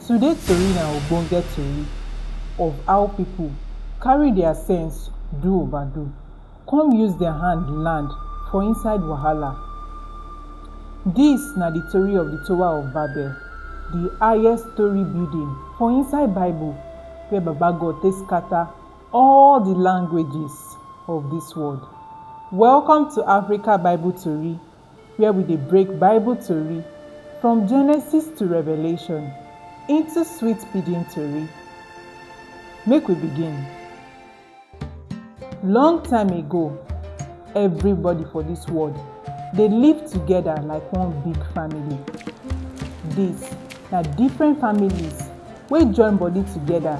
Today tori na ogbonge tori of how people carry their sense do overdo come use their hand land for inside wahala. This na the tori of the towa of babel, the highest story building for inside bible wey baba God take scatter. all di languages of dis world. Welcome to Africa Bible Tori where we dey break Bible tori from Genesis to Revelation into sweet pidgin tori. Make we begin. Long time ago, everybody for dis world dey live together like one big family. Dis na different families wey join body together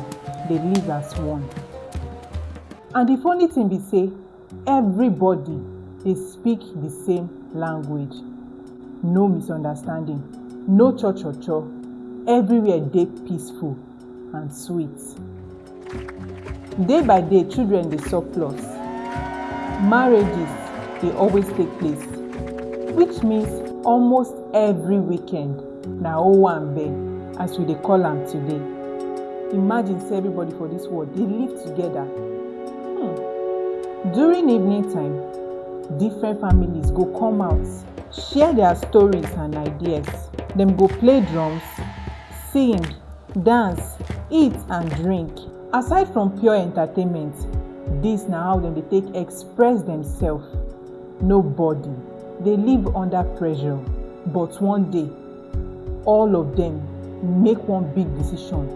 dey live as one. And the funny thing be say everybody dey speak the same language. No misunderstanding, no cho cho cho, everywhere dey peaceful and sweet. Day by day, children dey surplus, marriages dey always take place, which means almost every weekend na owanbe as we dey call am today. Imagine say everybody for this world dey live together. Hmm. During evening time, different families go come out, share their stories and ideas. Dem go play drums, sing, dance, eat and drink. Aside from pure entertainment, dis na how dem dey take express demsef. Nobody dey live under pressure but one day, all of dem make one big decision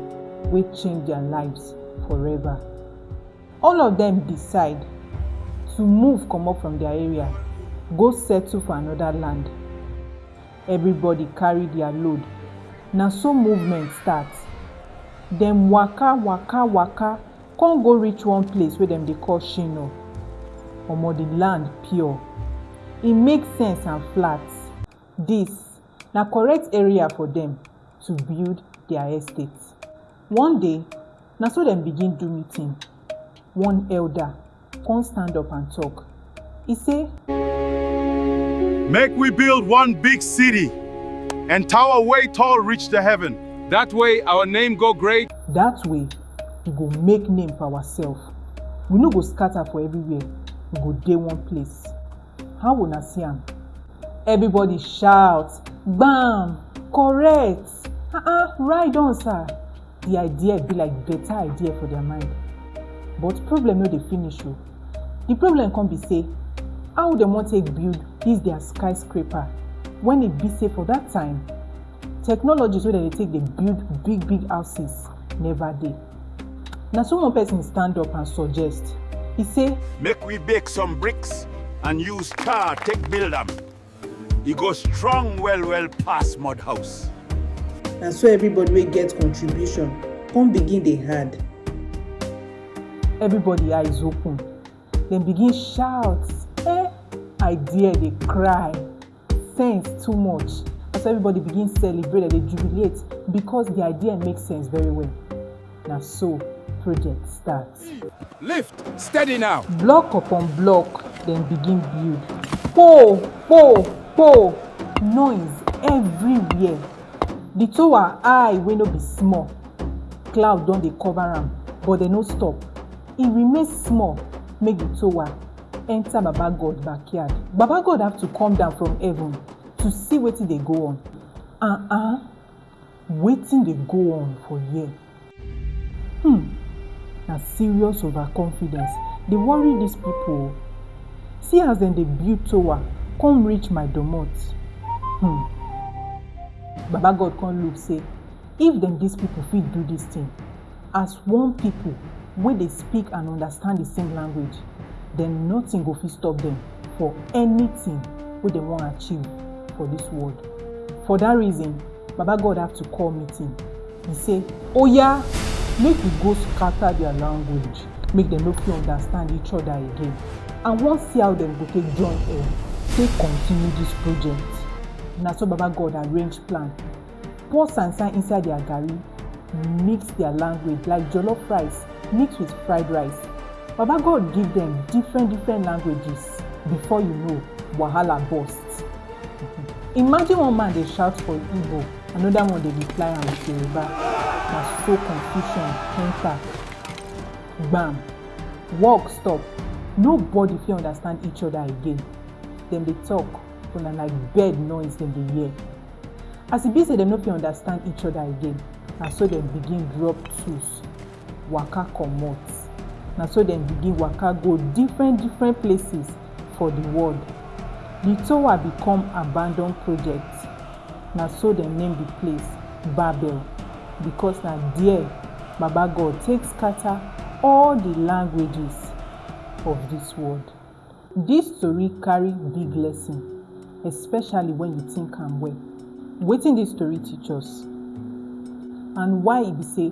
wey change dia lives forever. All of dem decide to move comot from dia area go settle for anoda land. Everybody carry their load, na so movement start. Dem waka, waka, waka come go reach one place wey dem dey call Shino. Omo the land pure, e make sense and flat. This na correct area for dem to build their estate. One day, na so dem begin do meeting. One elder come stand up and talk. He say, Make we build one big city and tower way tall reach the heaven. That way our name go great. That way, we go make name for ourselves. We no go scatter for everywhere. We go dey one place. How una see am? Everybody shout, Bam! Correct! ah ah ride on sir the idea be like better idea for their mind but problem no dey finish o the problem come be say how dem wan take build this their skyscraper when e be say for that time technologies wey dem dey take dey build big big houses never dey na so one person stand up and suggest e say Make we bake some bricks and use tar take build am. e go strong well well pass mud house. na so everybody wey get contribution come begin dey hard. everybody eyes open dem begin shout eh idea dey cry sense too much as everybody begin celebrate dem dey jubilate because the idea make sense very well. Na so project start. Lift steady now. Block upon block dem begin build. Kpoo kpoo kpoo noise everywhere. The tower high wey no be small. Cloud don dey cover am but dem no stop. E remain small make the tower enter Baba God backyard. Baba God have to come down from heaven to see wetin dey go on. Uh-uh. Wetin dey go on for here? Hmmm na serious over confidence dey worry dis pipu oo, see as dem dey build towa come reach my doormot hmmm, baba God come look sey if dem dis pipu fit do dis thing, As one pipo wey dey speak and understand di same language, dem notin go fit stop dem for anytin wey dem wan achieve for dis world. For dat reason, Baba God have to call meeting, e sey, Oya! Make we go scatter dia language, make dem no fit understand each oda again. I wan see how dem go take join head, take continue dis project. Na so Baba God arrange plan. pour sansan inside their garri mix their language like jollof rice mix with fried rice baba god give them different different languages before you know wahala burst imagine one man dey shout for igbo another one dey reply am with yoruba na so confusion enter gbam work stop nobody fit understand each other again dem dey talk So na like bird noise dem dey hear. As e be say dem no fit understand each other again, na so dem begin drop tools, waka comot. Na so dem begin waka go different different places for the world. The tower become abandoned project. Na so dem name the place Babel because na there Baba God take scatter all the languages of this world. Dis tori carry big lesson especially wen you tink am well. Wetin dis tori teach us and why e be sey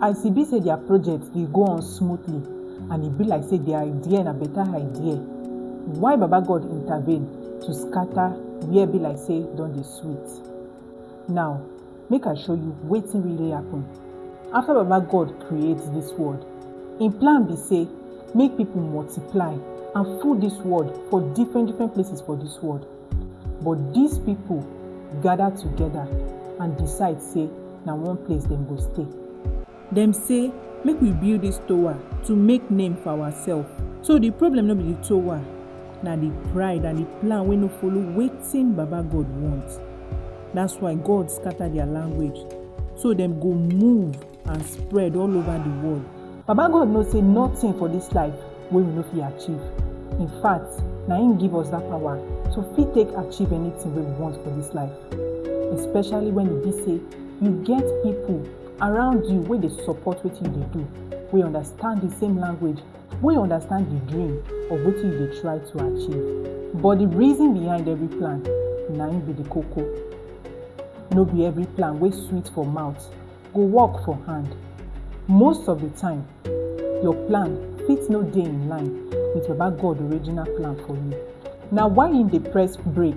as e be sey dia project dey go on smoothly and e be like sey di idea na beta idea, why Baba God intervene to scatter where be like sey don dey sweet. Now make i show you wetin really happen after baba god create this world im plan be say make people multiply and full this world for different different places for this world but these people gather together and decide say na one place dem go stay Dem say make we build dis towa to make name for awasef. So di problem no be di towa, na di pride and di plan wey no follow wetin Baba-God want. Dats why God scata dia language, so dem go move and spread all ova di world. Baba-God know sey notin for dis life wey we no fit achieve. In fact, na im give us dat pawa to fit take achieve anytin wey we want for dis life, especially wen e be sey you get pipo around you wey dey support wetin you dey do wey understand the same language wey understand the dream of wetin you dey try to achieve but the reason behind every plan na im be the koko no be every plan wey sweet for mouth go work for hand most of the time your plan fit no dey in line with baba god original plan for you na why im dey press break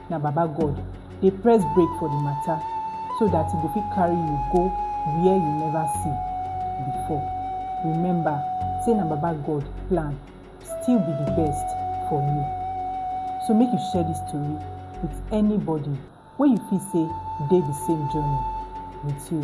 na baba God dey press break for the matter so that he go fit carry you go where you never see before. Remember say na baba God plan still be the best for you. So make you share this story with anybody wey you feel say dey the same journey with you.